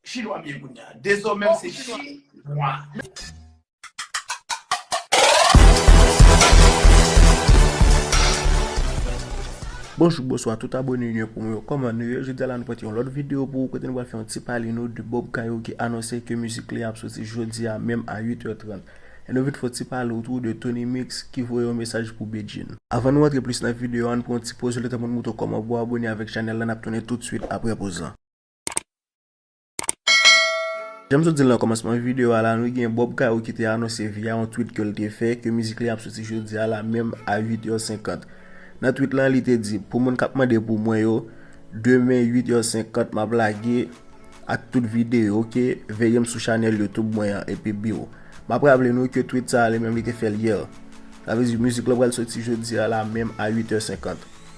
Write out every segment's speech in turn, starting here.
Chinwa m ye kounya. Dezome m se chinwa. Bonjou bonswa tout abone nou yo pou mwen yo koman nou ye jodi a la nou pote yon lòt video pou ou kote nou pral fè yon ti pale nou de Bob Kayo ki anonse ke mizik li ap soti jodi a menm a 8h30 e nou vin fè yon ti pale ou tou de Tony Mix ki voye yon mesaj pou Bedjine. Avan nou antre plis nan video an nou pran yon ti poz letan pou nou moutre w koman pou abone avèk chanèl la nap tounen tout swit aprè poz lan. Janm sot dil nan komansman video a la nou gen Bob Caro ki te anonse via yon tweet kel te fè ke mizik li ap soti jodi a la menm a 8 heures 50. Nan tweet lan li te di pou moun kap mande pou mwen yo demen 8 heures 50 map lage ak tout video ok veyem sou chanel youtube mwen an epi biw. Map raple nou ke tweet sa li menm li te fèl hier. Sa vle di mizik lan pral soti jodi a la menm a 8 heures 50.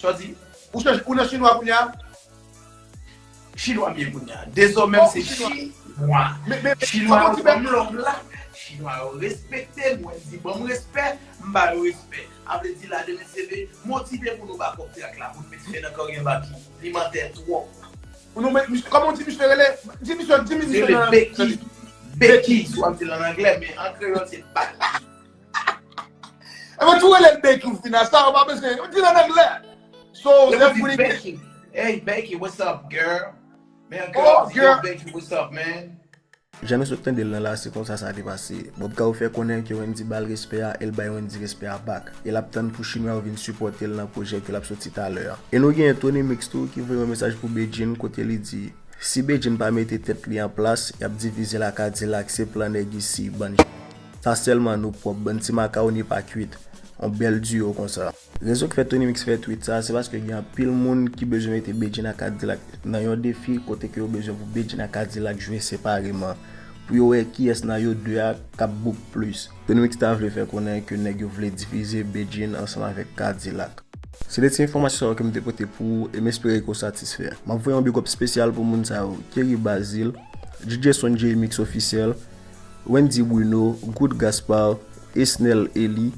Sa w di? Ou chanje, ou nan chinwa kounya? Chinwa m ye kounya. Dezòmè m se chinwa. Chinwa yo ban m lòv la. Chinwa yo respekte m. Wè m di ban m respè, m ba yo respè. A vle di la demen seve, motive pou nou ba kòk trak la pou n met fen nan karyè Baky. Li mantè twòp. Nou met misye, kòman w di misye rele? Di misye, di misye nan. Se rele Becky. Becky, si w ap di l an anglè, men an kreyòl se Baky. E mwen tou relel Becky fina sa ou pa bezwen, ou dil an anglè. So Yo zèf pou di li gen Becky. Hey Becky, what's up girl? Men yon girl Oh di yo girl. Becky, what's up man? Jan nou sot tandel lan la se konsa sa te pase. Bob Cao fè konnen ke Wendy bal respè a el bay Wendy respè a back. E lap tann pou chinwa yo vin sipòtel nan pwojè ke lap soti talè a. E nou genyen Tony Mix tou ki voye yon mesaj pou Bedjine kote li di Si Bedjine pa mete tèt li an plas yap divizel a Cadillac se plan nèg isi bann Sa selman nou pwop bann ti makawoni pa kwit on bel duo konsa. Rezon ki fè Tony Mix fè tweet sa, se paske gen anpil moun ki bezwen mete Bedjine ak K-Dilak nan yon defi kote ke yo bezwen pou Bedjine ak K-Dilak jwe separeman pou yo wè kiyès nan yo 2 a kap book plis. Tony Mix ta vle fè konnen ke nèg yo vle divize Bedjine ansanm avèk K-Dilak. Se de ti enfòmasyon sa yo ke m te pote pou ou e m espere ke w satisfè. Map voye yon big up spesyal pou moun sa yo, Kerry Bazil, DJ Son-Jay Mix Officiel, Wendy Bruno, Gout Gaspard, Esnel Elie,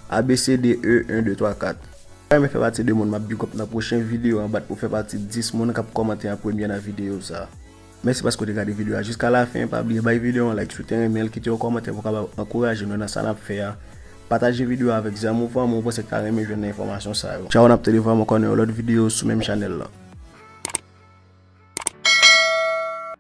ABCDE 1 2 3 4. Ou renmen fè pati de moun map bigòp nan pwochen video an bat pou fè pati 10 moun kap kòmante an premyè nan video sa. Mèsi paske ou te gade video a jiska lafen, pa bliye bay video an like si ou te renmenl, kite yon kòmantè pou kapab ankouraje nou nan sa nap fè a, pataje video a avèk zanmi ou fanmi ou panse ki ta renmen jwenn nan enfòmasyon sa yo. Tchao nap tande vwaman kò nan yon lòt video sou menm chanèl lan.